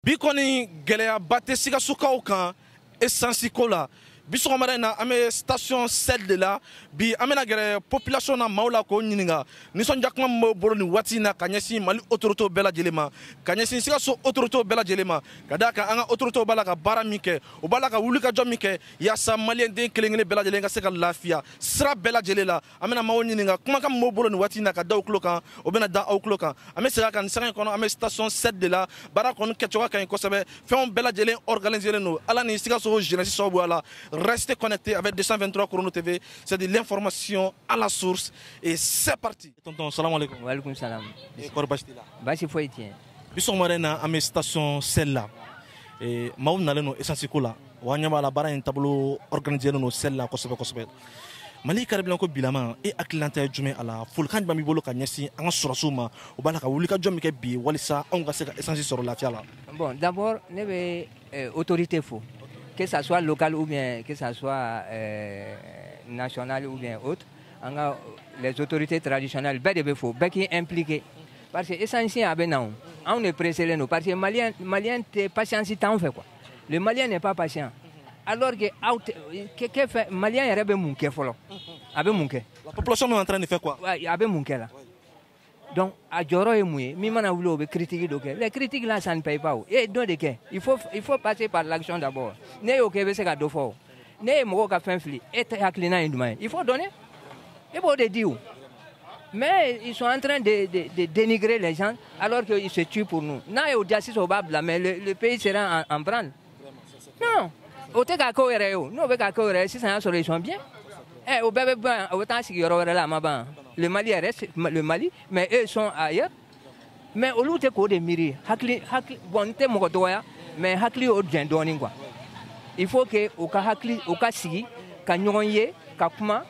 bi kɔni gɛlɛyaba tɛ sikasokaw kan esansi ko la bi sɔgɔmada in na an bɛ station shell de la bi an bɛna gɛrɛ population na maaw la k'o ɲininka nisɔndiya kuma min b'o bolo nin waati in na ka ɲɛsin mali autoritew bɛɛ lajɛlen ma ka ɲɛsin sikaso autoritew bɛɛ lajɛlen ma ka d'a kan an ka autoritew b'a la ka baara min kɛ u b'a la ka wulikajɔ min kɛ yaasa maliyɛnden kelen kelen bɛɛ lajɛlen ka se ka lafiya sira bɛɛ lajɛlen la an bɛna maaw ɲininka kumakan min b'o bolo nin waati in na ka da aw tulo kan o bɛna da aw tulo kan an bɛ segin a kan nin sanga in kɔnɔ an bɛ station shell de la baara kɔni kɛcogoya ka ɲi kosɛbɛ fɛnw bɛɛ lajɛlen organiselen don ala ni sikaso jeunesse sababuya la restez connectés avec 223 chrono tv c'est de l'information à la source et c'est parti tonton salam alaikum wa alaikum salam kɔri basi t'i la basi foyi tɛ yen bi sɔgɔmada in na an bɛ station shell la eh, maaw nalen don esansi ko la wa an ɲɛ b'a la baara in taabolo organiselen don shell la kosɛbɛ kosɛbɛ mali carburant ko bilama e hakililata ye jumɛn a la folikan jumɛn b'i bolo ka ɲɛsin an ka sɔrɔsiw ma o b'a la ka wulikajɔ min kɛ bi walisa anw ka se ka esansi sɔrɔ lafiya la bon d'abord ne bɛ eh, autorité fo que ça soit local ou bien que ça soit euh, national ou bien autre an ka les autorités traditionnelles bɛɛ de bɛ fo bɛɛ k'i impliquer parce que esansi a bɛ na o anw de preselen don parce que maliyɛn maliyɛn tɛ patience t'anw fɛ quoi le maliyɛn n'est pas patient alors que aw tɛ kɛ kɛ fɛ maliyɛn yɛrɛ bɛ mun kɛ fɔlɔ a bɛ mun kɛ. la population est en train de faire quoi. a bɛ mun kɛ la. donc a jɔyɔrɔ ye mun ye min mana wuli o bɛ critique dɔ kɛ les critiques là ça ne paye pas o e ye dɔ de kɛ il faut il faut passer par l'action d'abord n'e y'o kɛ i bɛ se ka dɔ fɔ o. n'e ye mɔgɔw ka fɛn fili e hakilina ye duman ye il faut donner e b'o de di o mais ils sont en train de, de, de dénigrer les gens alors qu'ils se tuent pour nous n'a y'o diya sisan o b'a bila mais le, le pays sera en, en branle non o tɛ k'a kɛ o yɛrɛ ye o n'o bɛ k'a kɛ o yɛrɛ ye sisan y'a sɔrɔ ils sont bien ɛ eh, o bɛɛ bɛ ban o bɛ taa sigi yɔrɔ wɛrɛ la a ma ban le Mali reste le Mali mais eux sont ailleurs mais olu tɛ k'o de miiri hakili hakili bon n tɛ mɔgɔ dɔgɔya mais hakili y'o jɛn dɔɔnin quoi il faut que u ka hakili u ka sigi ka ɲɔgɔn ye ka kuma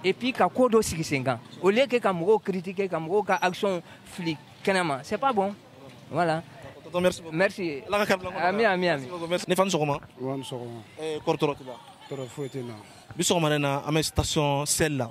et puis ka ko dɔ sigi sen kan au lieu que ka mɔgɔw critiquer ka mɔgɔw ka action fili kɛnɛ ma c'est pas bon voilà Tonton, merci beaucoup. Merci. Ala ka kari bila Ami, ami, ami. Ne fa ni sɔgɔma. Wa ni sɔgɔma. Eh, kɔri tɔɔrɔ t'i la. Tɔɔrɔ foyi tɛ n na. Bi sɔgɔmada in na an bɛ station shell la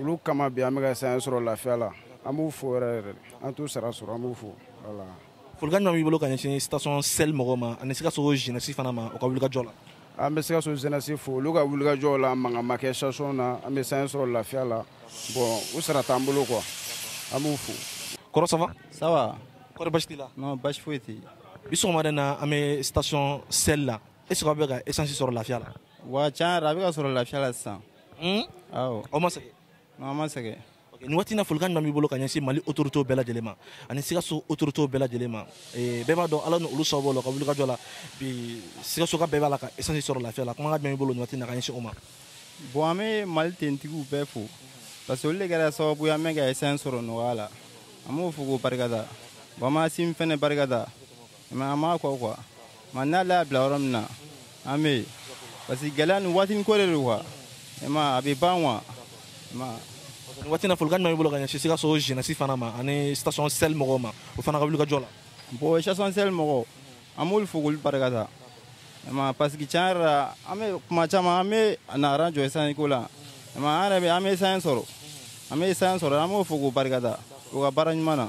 olu kama bi an bɛ ka essence sɔrɔ lafiya la an b'u fo yɛrɛ yɛrɛ an t'u sara sɔrɔ an b'u fo voilà folikan jumɛn b'i bolo ka ɲɛsin station shell mɔgɔw ma ani sikaso jeunesse fana ma u ka wulikajɔ la an bɛ sikaso jeunesse fo olu ka wulikajɔ la mankan ma kɛ station na an bɛ essence sɔrɔ lafiya la bon u sara t'an bolo quoi an b'u fo kɔrɔ ça va ça va kɔri basi t'i la non basi foyi tɛ bi sɔgɔmada in na an bɛ station shell la est ce que aw bɛ ka essence sɔrɔ lafiya la Wa tiɲɛ na a bɛ ka sɔrɔ lafiya la sisan aw ma sɛgɛn an ma sɛgɛn nin waati na folikan min b'i bolo ka ɲɛsin mali otorite bɛɛ lajɛlen ma ani sikaso otorite bɛɛ lajɛlen ma bɛɛ b'a dɔn ala ni olu sababu la u ka wulikajɔ la bi sikasoka bɛɛ b'a la ka esansi sɔrɔ lafiya la kuma b'i bolo nin waati na ka ɲɛsin o ma bon an bɛ mali finitigiw bɛɛ fo parce que olu de kɛra sababu an bɛ ka esansi sɔrɔ nɔgɔya la an b'o fo k'o barikada bamanan sin fana barikada mɛ an b'a kɔ kuwa mana an bila yɔrɔ min na an bɛ yen parce que gɛlɛya nin waatinin ko de don kuwa ma a bɛ ban kuwa nin waati na folikan jumɛn b'i bolo ka ɲɛsin sikaso jenɛsi fana ma ani station sel mɔgɔw ma o fana ka wuli ka jɔ la bon station sel mɔgɔw an b'olu fo k'olu barikada ma parce que tiɲɛ yɛrɛ la an bɛ kuma caman an bɛ na aran jɔ esansi ko la ma an yɛrɛ bɛ an bɛ esansi sɔrɔ an bɛ esansi sɔrɔ an b'o fo k'o barikada o ka baara ɲuman na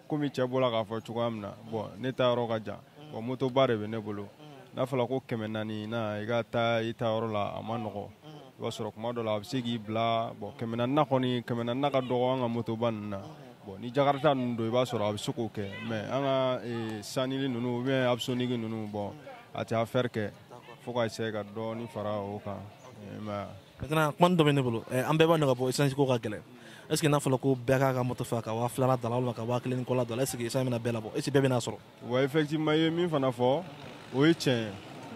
komi cɛ bɔra k'a fɔ cogoya min na bɔn ne ta yɔrɔ ka jan bɔn motoba de bɛ ne bolo n'a fɔra ko kɛmɛ naani na i ka taa i ta yɔrɔ la a ma nɔgɔ i b'a sɔrɔ kuma dɔ la a bɛ se k'i bila bɔn kɛmɛ naani kɔni kɛmɛ naani ka dɔgɔ an ka motoba ninnu na bɔn ni jakarata ninnu don i b'a sɔrɔ a bɛ se k'o kɛ mɛ an ka eh, sanili ninnu u bɛ abusonigi ninnu bɔn a tɛ afɛri kɛ fo ka se ka dɔɔni fara o kan eh, kuma dɔ bɛ ne bolo eh, an bɛɛ b'a dɔn k'a fɔ esansi ko ka gɛlɛn est ce que n'a fɔra ko bɛɛ k'a ka moto fa ka waa filala d'a la walima ka waa kelen ni kɔla d'a la est ce que esansi bɛna bɛɛ labɔ est ce que bɛɛ bɛna sɔrɔ wa effectivement i ye min fana fɔ o ye tiɲɛ ye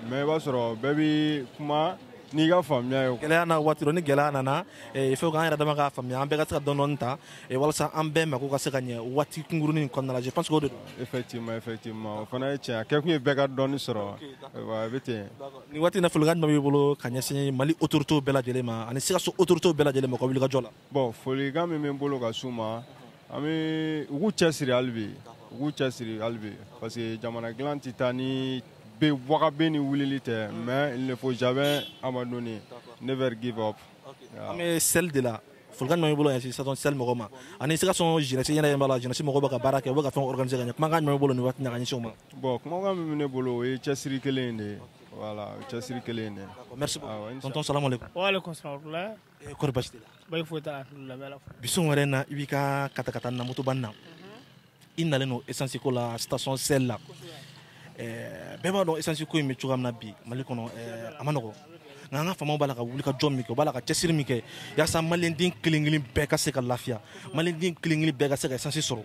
mais i b'a sɔrɔ bɛɛ bɛ kuma n'i ka faamuya ye gɛlɛya na waati dɔ ni gɛlɛya nana il faut que an yɛrɛ dama k'a faamuya an bɛɛ ka se ka dɔɔni dɔɔni ta eh, walasa an bɛɛ mako ka se ka ɲɛ waati kunkurunin in kɔnɔna la je pense que o de don effectivement effectivement o fana ye tiɲɛ ye a kɛkun ye bɛɛ ka dɔɔni sɔrɔ a bɛ ten nin waati na folikan jumɛn b'i bolo ka ɲɛsin mali autoritew bɛɛ lajɛlen ma ani sikaso autoritew bɛɛ lajɛlen ma ka wulikajɔ la bon folikan min bɛ n bolo ka s'u ma an bɛ u k'u cɛsiri hali bi u k'u cɛsiri hali bi parce que jamana dilan tɛ taa ni bin waga bin ni wulili tɛ mais il ne faut jamais abandonner never give up an bɛ sel de la folikan jumɛn b'i bolo ɲɛsin station sel mɔgɔw ma ani sikaso jenɛsi i ɲɛ b'a la jenɛsi mɔgɔw bɛ ka baara kɛ u bɛ ka fɛn organise ka ɲɛ kumakan jumɛn b'i bolo nin waati na ka ɲɛsin o ma bon kumakan min bɛ ne bolo o ye cɛsiri kelen de ye voilà cɛsiri kelen de merci beaucoup tonton salamu aleykum wa aleykum salam eh, kɔri basi t'i la ayi foyi t'a la alhamdulilayi bi sun wɛrɛ na i b'i ka katakatanin motoba nin na i nalen don esansi ko la station sel la eh, bɛɛ b'a dɔn esansi ko in bɛ cogoya min na bi mali kɔnɔ eh, a ma nɔgɔ nka an ka faamaw b'a la ka wuli ka jɔ min kɛ u b'a la ka cɛsiri min kɛ yaasa maliyɛnden kelen kelen bɛɛ ka se ka lafiya maliyɛnden kelen kelen bɛɛ ka se ka esansi sɔrɔ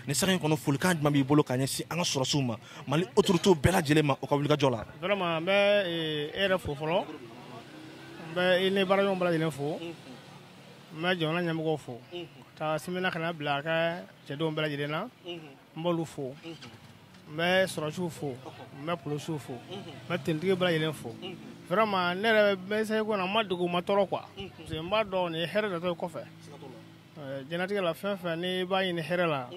nin sanga in kɔnɔ folikan jumɛn b'i bolo ka ɲɛsin an ka sɔrɔdasiw ma mali otoritew bɛɛ lajɛlen ma u ka wuli ka jɔ la vraiment n bɛ eh, e yɛrɛ fo fɔlɔ n bɛ i ni baaraɲɔgɔn bɛɛ lajɛlen fo n bɛ jamana ɲɛmɔgɔw fo k'asimi na ka n'a bila a ka cɛdenw bɛɛ lajɛlen na n b'olu fo n bɛ sɔrɔsiw fo n bɛ polisiw fo n bɛ tenitigi bɛɛ lajɛlen fo vraiment ne yɛrɛ ma sɛgɛn ko na n ma dogo n ma tɔɔrɔ quoi parce que n b'a dɔn nin ye hɛrɛ natɔ ye kɔfɛ diɲɛlatigɛ la fɛn fɛn n'i b'a ɲini hɛrɛ la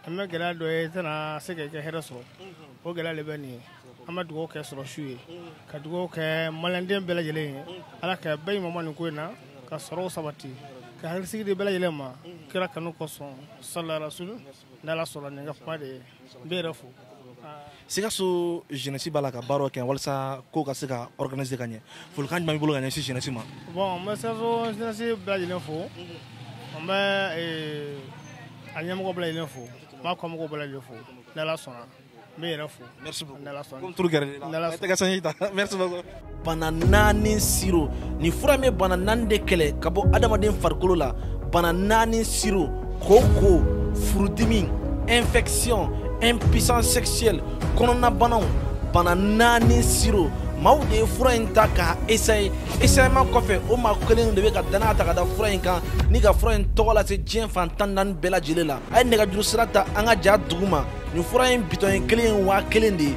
an bɛ gɛlɛya dɔ ye i tɛna se k'i ka hɛrɛ sɔrɔ o gɛlɛya de bɛ nin ye an bɛ dugawu kɛ sɔrɔsiw ye ka dugawu kɛ maliyɛnden bɛɛ lajɛlen ye ala ka bɛɛ ɲuman nin ko in na ka sɔrɔw sabati ka hakilisigi di bɛɛ lajɛlen ma kira kanu kosɔn salarasulu n'ala sɔnna ne ka kuma de ye n b'i yɛrɛ fo sikaso jeunesse b'a la ka baaraw kɛ walasa ko ka se ka organiser ka ɲɛ folikan jumɛn b'i bolo ka ɲɛsin jeunesse ma bon n bɛ sikaso jeunesse bɛɛ lajɛlen fo n bɛ a ɲɛmɔgɔ bɛɛ lajɛlen fo n b'a kɔmɔgɔw bɛɛ lajɛlen fo n'ala sɔnna n b'i yɛrɛ fo merci beaucoup n'ala sɔnna comme turu gɛrɛ l'i la n'ala tɛgɛ sanji ta merci beaucoup bana naani siro nin fura in bɛ bana naani de kɛlɛ ka bɔ adamaden farikolo la bana naani siro koko furudimi infection impuissance sexuelle kɔnɔnabanaw bana naani siro maaw de ye fura in ta k'a essayer essayement kɔfɛ o maa kelen de bɛ ka danaya ta ka da fura in kan ni ka fura in tɔgɔ lase diɲɛ fan tan naani bɛɛ lajɛlen la a ye nɛgɛjuru sira ta an ka ja duguma nin fura in bitɔn in kelen waa kelen de ye